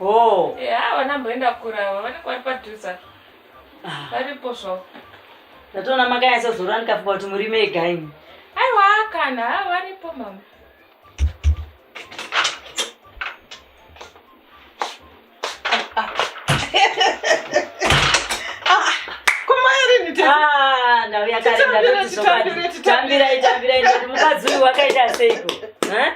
Oh. Eh, ah, vana mboenda kurava vanenge vari padhuza. Ah. Varipo zvavo. Ndatoona makanyatsa zora ndikafunga kuti muri mega imi. Aiwa kana ah, varipo mama. Ah, ndauya kare ndatotisoka. Tambirai tambirai ndati mukadzi uyu wakaita seiko?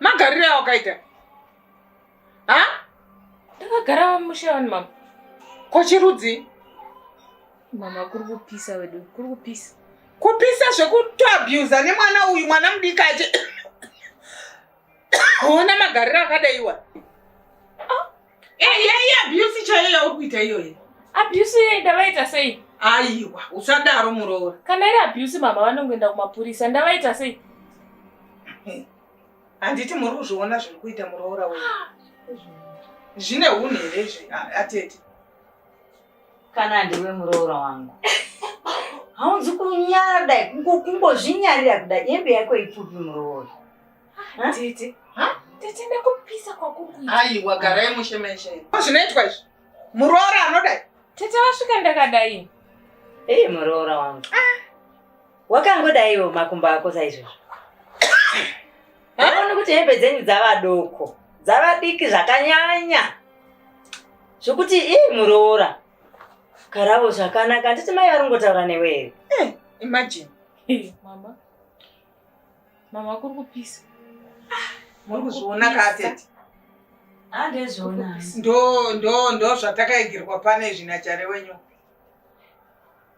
magarire awakaita ha ndakagara mushe wani mama kochirudzi mama kuri kupisa wedu kuri kupisa kupisa zvekutoabusa nemwana uyu mwana mudiki achi ona magariro akadaiwa Hey, yeah, yeah, abuse chaiyo yauri kuita iyoyo. Abuse iye ndavaita sei? Aiwa, usadaro muroora. Kana iri abuse mama vanongoenda kumapurisa, ndavaita sei? Handiti muri kuzviona zviri kuita muroora wewe. Ah, Zvine hunhu here izvi atete? Kana ndiwe muroora wangu. Haunzi kunyara kudai, kungozvinyarira kudai, hembe yako ipfupi muroora. Tete. Ha? Tete ndakupisa kwakukuita. Aiwa garai mushe meshe. Zvinoitwa izvi. Muroora anoda. Tete wasvika ndakadai. Hey muroora wangu. Ah. Wakangodaiwo makumba ako saizvozvo. Haona kuti hembe dzenyu dzava doko. Dzava diki zvakanyanya. Zvokuti ii muroora. Karavo zvakanaka. Handiti mai vari kungotaura newe here? Eh, imagine. Hey, mama. Mama kuri kupisa. Ah, muri kuzviona katete. Andezviona. Ah, ndo ndo ndo zvatakaigirwa pane zvinachare wenyu.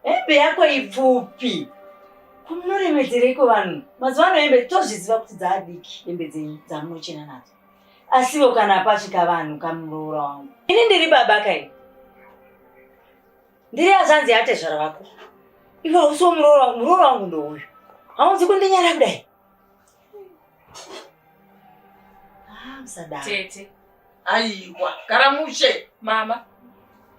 Hembe yako ipfupi. Kunoremedzereiko vanhu? Mazuva ano hembe tozviziva kuti dzaadiki hembe dzenyu dzamunochena nadzo. Asivo kana pasvika vanhu kamuroora wangu. Ini ndiri baba kai. Ndiri azanzi yatezvara vako. Iwe hausi muroora wangu, muroora wangu ndouyu. Haunzi kundinyara kudai. Ah, msadaro. Tete. Aiwa, karamushe. Mama,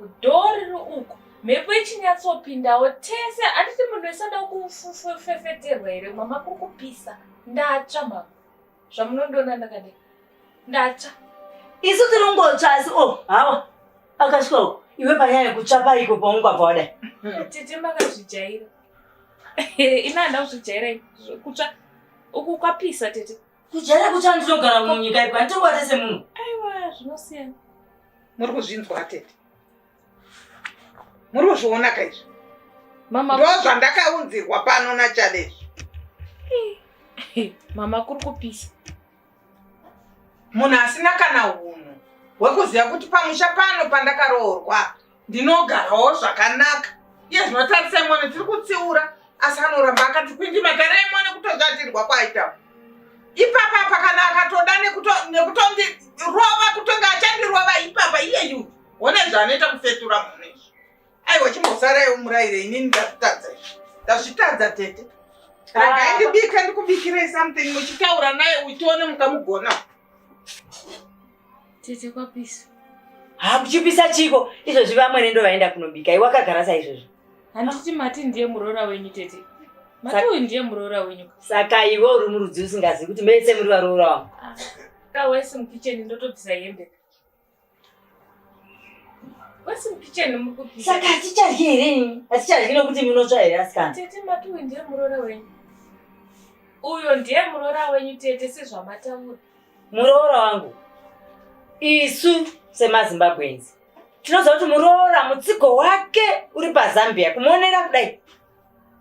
udori ro uko. Mhepo ichinyatsopindawo tese atiti munhu isada kufefeterwa here mama kukupisa ndatsva mama zvamunondiona ndakadii ndatsva isu tinongotsva asi o oh, hawa akasvika uko iwe panyaya yekutsva paiko paunogwabva wadai hmm. tete makazvijaira ina handa kuzvijaira kutsva uku kwapisa tete kujaira kutsva ndinogara munyika ipa nditokwatese munhu aiwa zvinosiyana muri kuzvinzwa tete muri kuzviona ka izvi ndozvandakaunzirwa pano nachalezvi mama kuri kupisa munhu asina kana hunhu hwekuziva kuti pamusha pano pandakaroorwa ndinogarawo zvakanaka iye zvinotarisai mwana tiri kutsiura asi anoramba akati kwindi matarai mwana kutozvatirwa kwaita ipapa apa kana akatoda nekutondirova kutonga achandirova ipapa iyeyu Hona zvanoita kufetura munhu izvi. Aiwa chimbosarai umuraire inini ndazvitadza izvi. Ndazvitadza tete. Regai ndibika ndikubikirei something muchitaura naye utione mukamugona. Tete kwapisa. Ha kuchipisa chiko izvozvi vamwene ndo vaenda kunobika. Iwe wakagara saizvozvo. Handiti mati ndiye muroora wenyu tete. Mati uyu ndiye muroora wenyu. Saka iwe uri murudzi usingazivi kuti mese muri varoora wangu. Ah. Kawesi mukitchen ndotobvisa hembe. saka hatichadyi here ini hatichadyi nokuti munotsva here asikana tete matuwi ndiye muroora wenyu uyo ndiye muroora wenyu tete sezvamataura muroora wangu isu semazimbabwenzi tinoziva kuti muroora mutsigo wake uri pazambia kumuonera kudai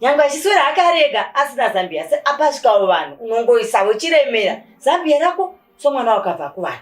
nyangwe achiswera hake arega asina zambia asi apasvikawo vanhu unongoisavo chiremera zambia rako somwana wakabva kuvanhu